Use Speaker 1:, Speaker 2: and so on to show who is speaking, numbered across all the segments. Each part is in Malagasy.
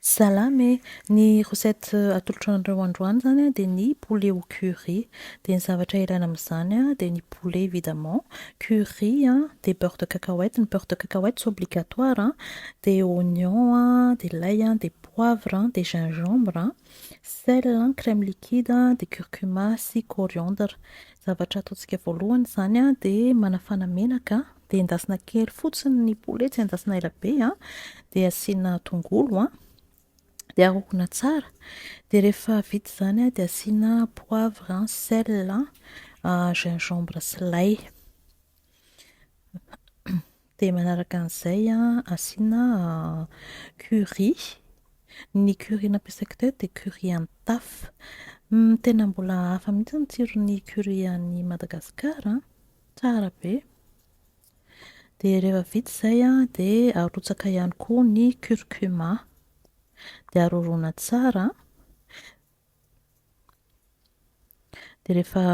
Speaker 1: Salam e! Ny recette atolotro anareo androany izany an, dia ny poulet au curry. Dia ny zavatra ilaina amin'izany an, dia ny poulet évidemment, curry an, dia beurre de cacahuète, ny beurre de cacahuète tsy obligatoire an, dia oignon an, dia lay an, dia poivre an, dia gingembre an, sel an, crème liquide an, dia curcuma sy coriandre. Ny zavatra ataontsika voalohany izany an, dia manafana menaka, dia endasina kely fotsiny ny poulet tsy endasina ela be a, dia asiana tongolo a, dia arokona tsara, dia rehefa vita izany dia asiana poivre, sel, gingembre sy lay, dia manaraka an'izay asiana curry, ny curry nampiasaiko teo dia curry an'i Taf, tena mbola hafa mihintsy ny tsiron'ny curry any Madagasikara. Tsara be. Dia rehefa vita izay an, dia arotsaka ihany koa ny curcuma. Dia aroroana tsara. Dia rehefa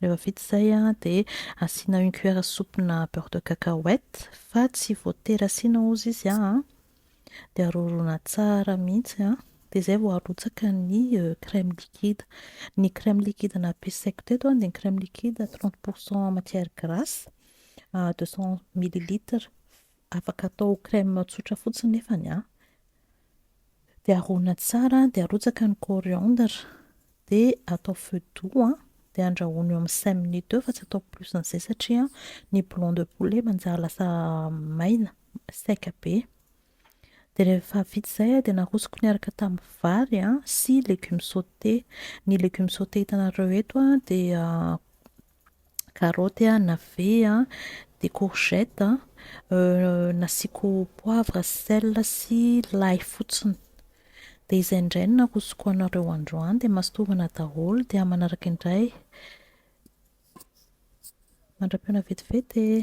Speaker 1: rehefa vita izay an, dia asiana une cuillère à soupe-na beurre de cacahuète, fa tsy voatery asiana hozy izy an. dia roroina tsara mihitsy an, dia izay vao arotsaka ny crème liquide, ny crème liquide nampiasaiko teto dia ny crème liquide trente pour cent matière grasse deux cent millilitres, afaka atao crème tsotra fotsiny nefany an, dia roroina tsara dia arotsaka ny coriandre, dia atao feu doux an, dia andrahoina eo amin'ny cinq minutes eo fa tsy atao plus an'izay satria ny blanc de poulet manjary lasa maina, sec be. Dia rehefa vita izay dia narosoko niaraka tamin'ny vary sy légumes sautés. Ny légumes sautés hitanareo eto dia carotte, navet, dia courgette, nasiako poivre, sel sy lay fotsiny. Dia izay indray no narosoko anareo androany dia masintovina daholo dia manaraka indray. Mandra-pihaona vetivety e!